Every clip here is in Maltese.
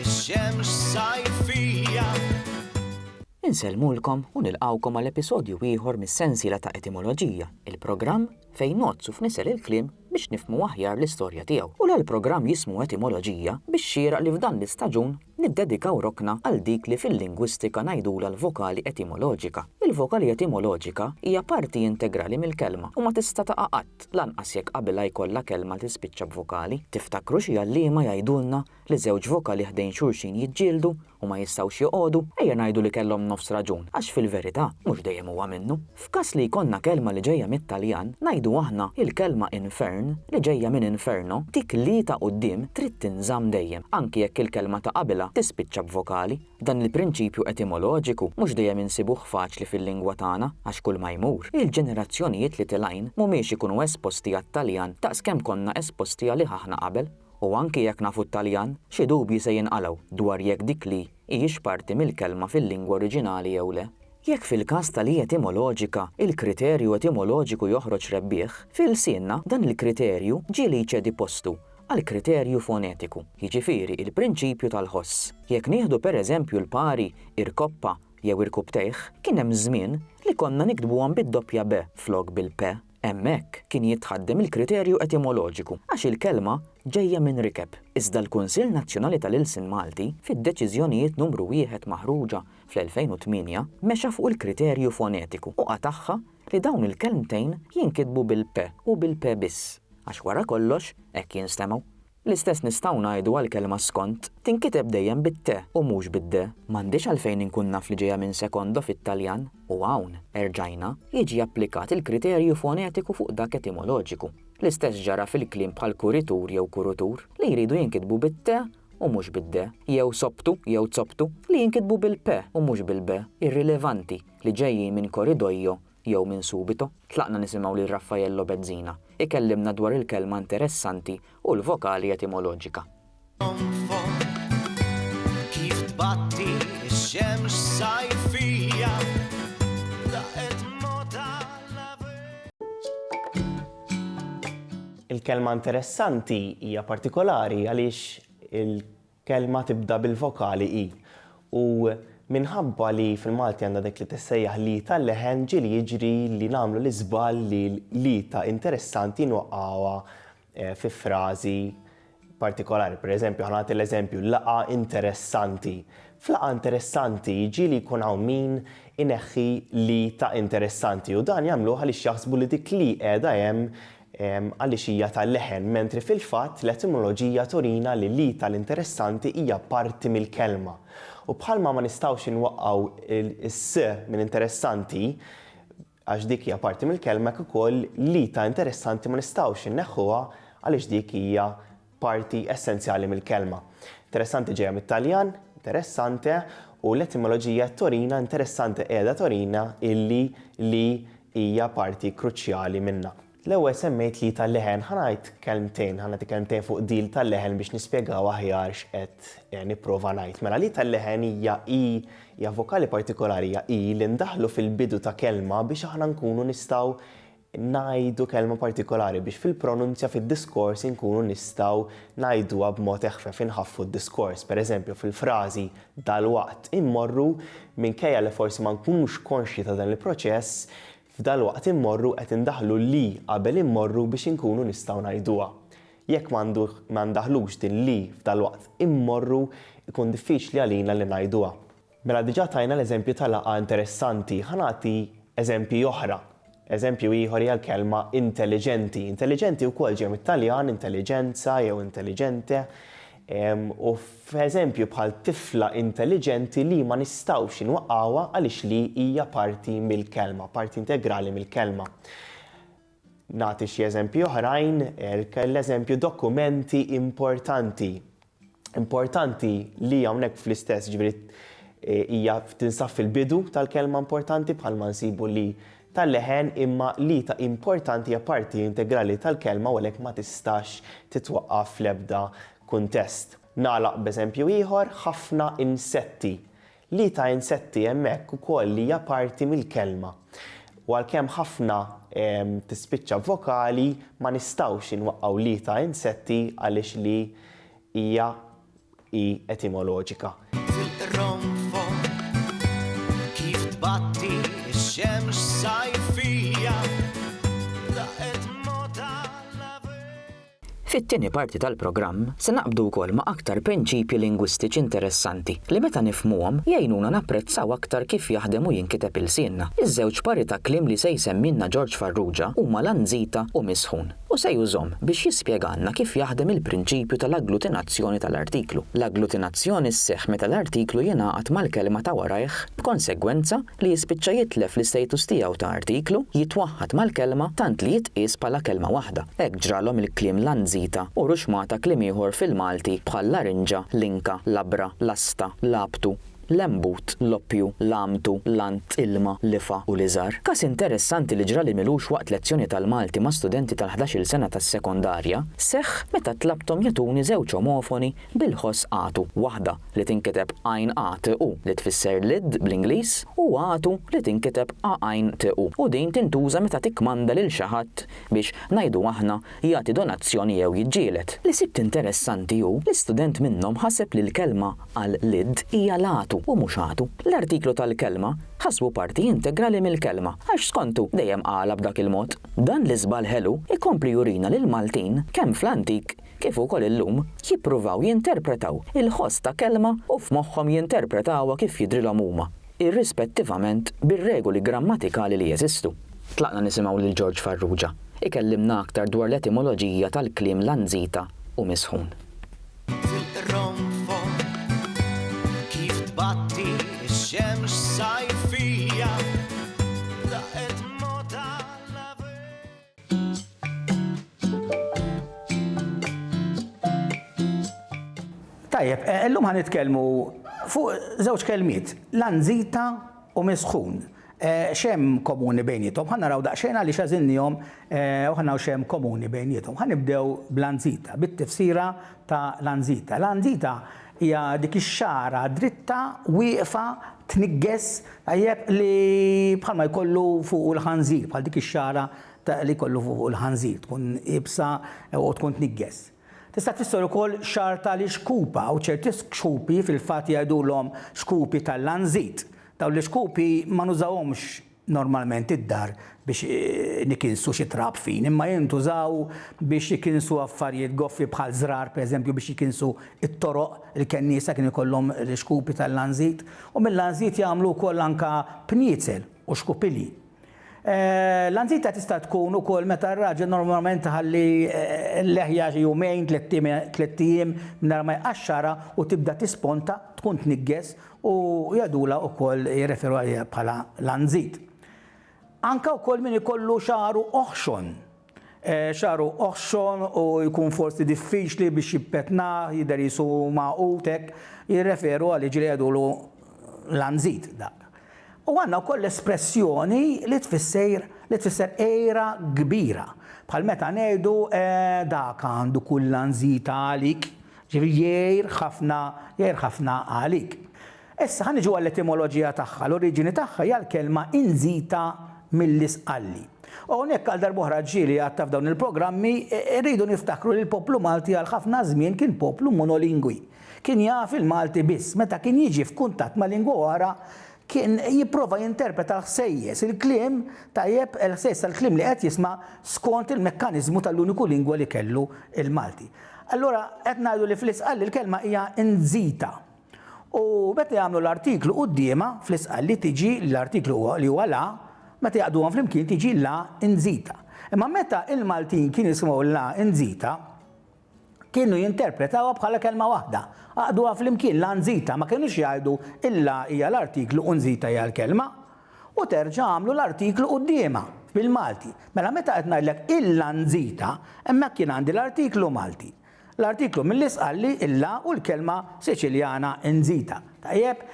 Ix-xemx sajfija. Insellmulkom u nilqgħukom għal episodju ieħor mis-sensiela ta' Etimoloġija, il-programm fejn ngħodd u fnisel il-kliem biex nifhmu aħjar l-istorja tiegħu. U l-programm jismu Etimoloġija biex xieraq li f'dan l-istaġun niddedikaw rokna għal dik li fil-lingwistika ngħidulha l-vokali etimoloġika. Il-vokali etimoloġika hija parti integrali mill-kelma u ma tista' taqa' qatt, lanqas jekk qabilha jkollha kelma tispiċċa b'vokali. Tiftakru xi għalliema jgħidulna li żewġ vokali ħdejn xulxin jiġġieldu u ma jistgħux joqogħdu, ejja ngħidu li kellhom nofs raġun, għax fil-verità, mhux dejjem huwa minnu. F'każ li jkollna kelma li ġejja mit-Taljan, ngħidu aħna il-kelma infern, li ġejja minn inferno, dik l-i ta' quddiem trid tinżamm dejjem, anki jekk il-kelma ta' qabilha tispiċċa b'vokali. Dan il-prinċipju etimoloġiku mhux dejjem insibuh faċli fil-lingwa tagħna għax kulma jmur, il-ġenerazzjonijiet li tilgħin mhumiex ikunu esposti għat-Taljan daqs kemm konna esposti għalih aħna qabel. U anki jekk nafu t-Taljan, xi dubji se jinqalgħu dwar jekk dik li hijiex parti mill-kelma fil-lingwa oriġinali jew le. Jekk fil-każ ta' li etimoloġika il-kriterju etimoloġiku joħroġ rebbieħ, fi lsienna dan il-kriterju ġieli jċedi postu għal kriterju fonetiku, jiġifieri il-prinċipju tal-ħoss. Jekk nieħdu per eżempju l-pari irkoppa jew irkuptejh, kien hemm żmien li konna niktbuhom bid-doppja be flok bil-pe. Hemmhekk kien jitħaddem il-kriterju etimoloġiku għax il-kelma ġejja minn rikeb. Iżda l-Kunsill Nazzjonali tal-Ilsien Malti, fid-Deċiżjonijiet Numru Wieħed maħruġa fl-2008, mexa fuq il-kriterju fonetiku u qatagħha li dawn il-kelmtejn jinkitbu bil-p u bil-p biss, għax wara kollox hekk jinstemgħu. L-istess nistgħu ngħidu għall-kelma skont, tinkiteb dejjem bit-te u mhux bid-de. M'għandix għalfejn inkun naf li ġejja minn secondo fit-Taljan, u hawn, erġajna, jiġi applikat il-kriterju fonetiku fuq dak etimoloġiku. L-istess ġara fil-kliem bħal kuritur jew kurutur, li jridu jinkitbu bit-te u mhux bid-de, jew sobtu jew zoptu, li jinkitbu bil-pe u mhux bil-be, irrilevanti, li ġejjin minn koridoio jew minn subito, tlaqna nisimgħu lil Raffaello Bezzina jkellimna dwar il-kelma interessanti u l-vokali etimoloġika. Il-kelma interessanti hija partikolari għaliex il. Kelma tibda bil-vokali i u minħabba li fil-Malti għandha dik li tissejjaħ l-i tal-leħen ġieli jiġri li nagħmlu l-iżball li l-i ta' interessanti nwaqqgħuha fi frażi partikolari. Pereżempju, ħa nagħti l-eżempju, laqgħa interessanti. F'laqgħa interessanti ġieli jkun hawn min ineħħi l-i ta' interessanti u dan jagħmluh għaliex jaħsbu li dik l-i qiegħda hemm għaliex hija tal-leħen, mentri fil-fatt l-etimoloġija turina li l-id tal-interessanti hija parti mill-kelma. U bħalma ma nistgħux inwaqqgħu s-s minn interessanti, għax dik hija parti mill-kelma, hekk ukoll l-id ta' interessanti ma nistgħux inneħħuha għaliex dik hija parti essenzjali mill-kelma. Interessante ġejja mit-Taljan, interessante, u l-etimoloġija torina interessante qiegħda torina illi li hija parti kruċjali minnha. L-ewwel semmejt li tal-leħen, ħa ngħid kelmtejn, ħa nagħti kelmtejn fuq deal tal-leħen biex nispjegaw aħjar x'qed eh, nipprova ngħid. Mela li tal-leħen hija i hija vokali partikolari hija i li ndaħlu fil-bidu ta' kelma biex aħna nkunu nistgħu ngħidu kelma partikolari biex fil-pronunzja fid-diskors inkunu nistgħu ngħiduha b'mod eħfef, inħaffu d-diskors. Per eżempju, fil-frażi dalwaqt immorru, minkejja li forsi ma nkunux konxji ta' dan il-proċess, f'dalwaqt immorru qed indaħħlu l-i qabel immorru biex inkunu nistgħu ngħiduha. Jekk ma ndaħħlux din l-i f'dalwaqt immorru, ikun diffiċli għalina li ngħiduha. Mela diġà tajna l-eżempju ta' laqgħa interessanti. Ħa nagħti eżempji oħra. Eżempju ieħor hija l-kelma intelliġenti. Intelliġenti wkoll ġej mit-Taljan, intelligenza jew intelligente. U f'eżempju bħal tifla intelliġenti li ma nistgħux inwaqqgħuha għaliex li hija parti mill-kelma, parti integrali mill-kelma. Nagħti xi eżempji oħrajn, l-eżempju dokumenti importanti. Importanti li hawnhekk fl-istess ġifieri hija tinsab fil-bidu tal-kelma importanti bħalma nsibu li tal-leħen imma li ta' importanti hija parti integrali tal-kelma u għalhekk ma tistax titwaqqaf fl-ebda kuntest. Nagħlaq b'eżempju ieħor, ħafna insetti. Li ta' insetti hemmhekk ukoll li hija parti mill-kelma. U għalkemm ħafna tispiċċa b'vokali, ma nistgħux inwaqqgħu li ta' insetti għaliex li hija hi etimoloġika. Tirronfo' kif tbatti x-xemx sajfija, laqgħet mgħotha l-għabieb. Fit-tieni parti tal-programm se naqbdu wkoll ma' aktar prinċipji lingwistiċi interessanti li meta nifhmuhom jgħinuna napprezzaw aktar kif jaħdem u jinkiteb ilsienna. Iż-żewġ pari ta' kliem li se jsemmilna Ġorġ Farrugia huma lanzita u misħun u se jużhom biex jispjegalna kif jaħdem il-prinċipju tal-agglutinazzjoni tal-artiklu. L-agglutinazzjoni sseħħ meta l-artiklu jingħaqad mal-kelma ta' warajh b'konsegwenza li jispiċċa jitlef l-istatus tiegħu ta' artiklu, jitwaħħad mal-kelma tant li jitqies bħala kelma waħda. Hekk ġralhom il-kliem lanzita u ruxmata kliem ieħor fil-Malti bħal larinġa, linka, labra, lasta, labtu, lembut, loppju, lamtu, lant, ilma, lifa u liżar. Każ interessanti li ġrali milux waqt lezzjoni tal-Malti ma' studenti tal-ħdax-il sena tas-sekondarja, seħħ meta tlabthom jagħtuni żewġ omofoni Bil-ħoss għatu, waħda, li tinkiteb għajn a t u, li tfisser lid bl-Ingliż, u għatu, li tinkiteb a għajn t u, u din tintuża meta tikkmanda lil xi ħadd biex, ngħidu aħna, jagħti donazzjoni jew jiġġieled. Li sibt interessanti hu li student minnhom ħaseb li l-kelma għal lid hija latu u mhux għatu. L-artiklu tal-kelma ħasbu parti integrali mill-kelma, għax skontu dejjem qalha b'dak il-mod. Dan l-iżball ħelu jkompli jurina li l-Maltin, kemm fl-antik kif ukoll illum, jippruvaw jinterpretaw il-ħoss ta' kelma u f'moħħhom jinterpretawha kif jidhrilhom huma, irrispettivament bir-regoli grammatikali li jeżistu. Tlaqna nisimgħu lil George Farrugia ikellimna aktar dwar l-etimoloġija tal-kliem lanzita u misħun. Tilqronfol kif tbatti x-xemx sajfija. Tajjeb, eh, illum ħan nitkellmu fuq żewġ kelmiet, lanzita u misħun. Eh, xem komuni bejnietom, ħan naraw daqxejn għalli xazinnijom eh, u ħannaw xem komuni bejnietom. Ħan nibdew bl-anzita, bit-tifsira ta' l-anzita. L-anzita Hija dik ix-xagħra dritta wieqfa tniggeż, tajjeb, li bħalma jkollu fuqu l-ħanżir, bħal dik ix-xagħra li jkollu fuqu l-ħanżir, tkun iebsa u tkun tniggeż. Tista' tfisser ukoll xagħar ta' l-ixkupa u ċerti xkupi fil-fatt jgħidulhom xkupi tal-lanżit. Dawn l-ixkupi ma nużawhomx normalment id-dar biex nikinsu xi trab fin, imma jintużaw biex jikinsu affarjiet goffi bħal żrar, pereżempju biex jikinsu t-toroq, il-kenniesa kienu jkollhom l-ixkupi tal-lanżit, u mil-lanżit jagħmlu wkoll anke pniezel u xkupilji. Lanżita tista' tkun ukoll meta r-raġel normalment iħalli l-leħja xi jumejn, tlett ijiem mingħajr ma jqaxxarha u tibda tisponta, tkun tniggeż u jadula ukoll jirreferu għaliha bħala l-għanżid. Anka wkoll min ikollu xaru oħxon. Xaru eh, oħxon u jkun forsi diffiċli biex jippetnah, jidher jisu maqut hekk, jirreferu għal ġri jadulu l-anżid dak. U għanna wkoll l-espressjoni li tfisser li tfisser era kbira. Bħal meta ngħidu eh, dak għandu kull anżita għalik, Jiġifieri jgħir ħafna, jgħir ħafna għalik. Issa ħa niġu għall-etimoloġija tagħha, l-oriġini tagħha hija l-kelma inzita mill-isqalli. U hawnhekk għal darb'oħra ġieli għad ta' f'dawn il-programmi, irridu niftakru li l-poplu Malti għal ħafna żmien kien poplu monolingwi. Kien jaf il-Malti biss. Meta kien jiġi f'kuntatt ma' lingwa oħra, Kien jipprova jinterpreta l-ħsejjes, il-kliem, tajjeb, il-ħsejjes tal-kliem li qed jisma' skont il-mekkaniżmu tal-uniku lingwa li kellu, il-Malti. Allura qed ngħidu li fl-Isqalli l-kelma hija inzita. U meta jagħmlu l-artiklu quddiemha, fl-Isqalli tiġi l-artiklu li huwa la, meta jgħaqqduhom flimkien tiġi la inzita. Imma meta l-Maltin kienu jisimgħu la inzita, Kienu jinterpretawha bħala kelma waħda. Għaqduha flimkien, la nzita, ma kinux jgħidu il-la hija l-artiklu u nzita hija l-kelma. U terġa' għamlu l-artiklu quddiemha, bil-Malti. Mela meta qed ngħidlek il-la nzita, hemmhekk jien għandi l-artiklu Malti. L-artiklu Millis qalli il-la u l-kelma Siċiljana nzita. Tajjeb,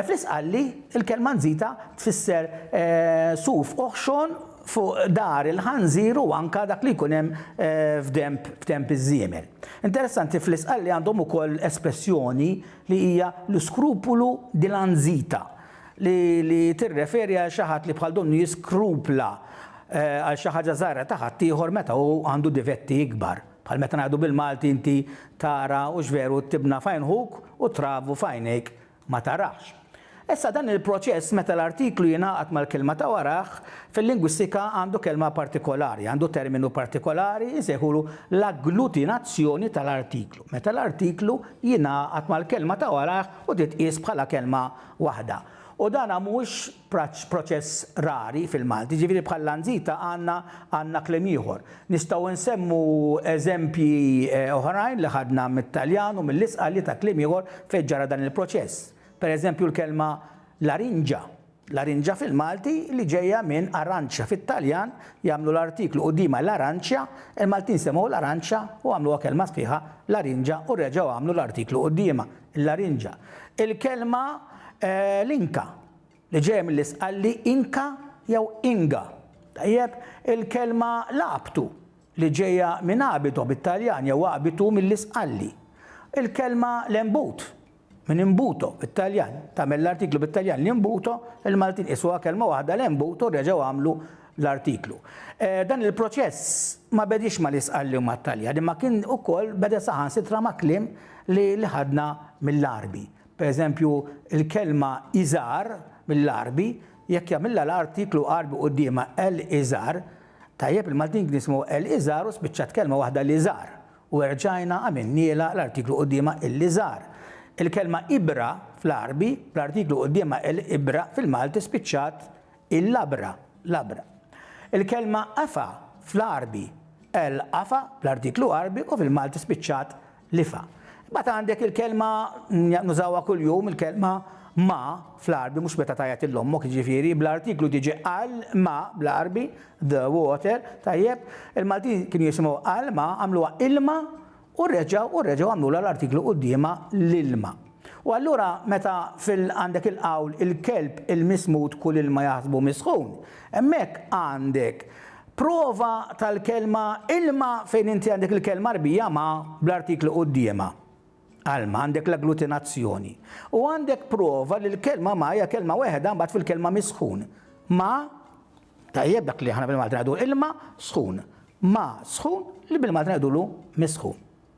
fl-Isqalli l-kelma nzita tfisser suf oħxon fuq dar il-ħanżir u anke dak li jkun hemm f'denb f'denb iż-żiemel. Interessanti fl-Isqalli għandhom ukoll espressjoni li hija lo scrupolo di la nzita li li tirreferi għal xi ħadd li bħal donnu jiskrupla għal xi ħaġa żgħira ta' ħaddieħor meta hu għandu difetti ikbar. Bħal meta ngħidu bil-Malti inti tara hux veru t-tibna f'għajn ħuk u t-travu f'għajnejk ma tarax. Issa dan il-proċess meta l-artiklu jingħaqad mal-kelma ta' warajh, fil-lingwistika għandu kelma partikolari, għandu terminu partikolari, insejħulu l-agglutinazzjoni tal-artiklu, meta l-artiklu jingħaqad mal-kelma ta' warajh u titqies bħala kelma waħda. U dan mhux proċess rari fil-Malti, jiġifieri bħal Lanzita għandna għandna kliem ieħor. Nistgħu nsemmu eżempji oħrajn li ħadna mit-Taljan u mill-Isqali ta' kliem ieħor fejn ġara dan il-proċess. Per eżempju l-kelma larinġa. Larinġa fil-Malti li ġejja minn aranċja fit-Taljan jagħmlu l-artiklu quddiemha l-aranċja, il-Maltin semgħu l-aranċja u għamluha kelma sħiħa larinġa u reġgħu għamlu l-artiklu quddiemha, il-larinġa. Il-kelma l-Inka. li ġej mill-Isqalli Inka jew Inga, tajjeb, il-kelma Labtu li ġejja minn abito bit-Taljan jew abitu mill-Isqalli, il-kelma Lembut minn imbuto bit-Taljan, tagħmel l-artiklu bit-Taljan l-imbuto, il-Maltin qisuha kelma waħda Lembut u reġgħu għamlu l-artiklu. Dan il-proċess ma bediex mal-Isqalli u mat-Taljan imma kien ukoll beda saħansitra ma' kliem li ħadna mill-Għarbi. Pereżempju, il-kelma iżgħar, mill-Għarbi, jekk jagħmilha l-artiklu Għarbi quddiemha el iżgħar, tajjeb il-Maltin kien jismu el iżgħar u spiċċat kelma waħda l-iżgħar, u erġajna għamilnielha l-artiklu quddiemha il-iżgħar. Il-kelma ibra, fl-Għarbi, bl-artiklu quddiemha el ibra, fil-Malti spiċċat il-labra, labra. Il-kelma qafa, fl-Għarbi, el qafa, bl-artiklu Għarbi, u fil-Malti spiċċat L-ifa. Imbagħad għandek il-kelma, nużawha kuljum, il-kelma ma fl-Għarbi, mhux meta tgħajjat lil ommok, jiġifieri, bl-artiklu diġi għal ma bl-Għarbi, the water, tajjeb, il-Maltin kienu jisimgħu għal ma, għamluha ilma u reġgħu u reġgħu għamlulha l-artiklu quddiemha l-ilma. U allura meta fil għandek il-qawl il-kelb il-mismud kull ilma jaħsbu misħun, hemmhekk għandek prova tal-kelma ilma fejn inti għandek il-kelma Għarbija ma bl-artiklu quddiemha, alma, għandek l-agglutinazzjoni. U għandek prova li l-kelma ma hija kelma weħeda mbagħad fil-kelma misħun. Ma, tajjeb dak li aħna bil-Malti ngħidu ilma sħun. Ma sħun li bil-Malti ngħidulu misħun.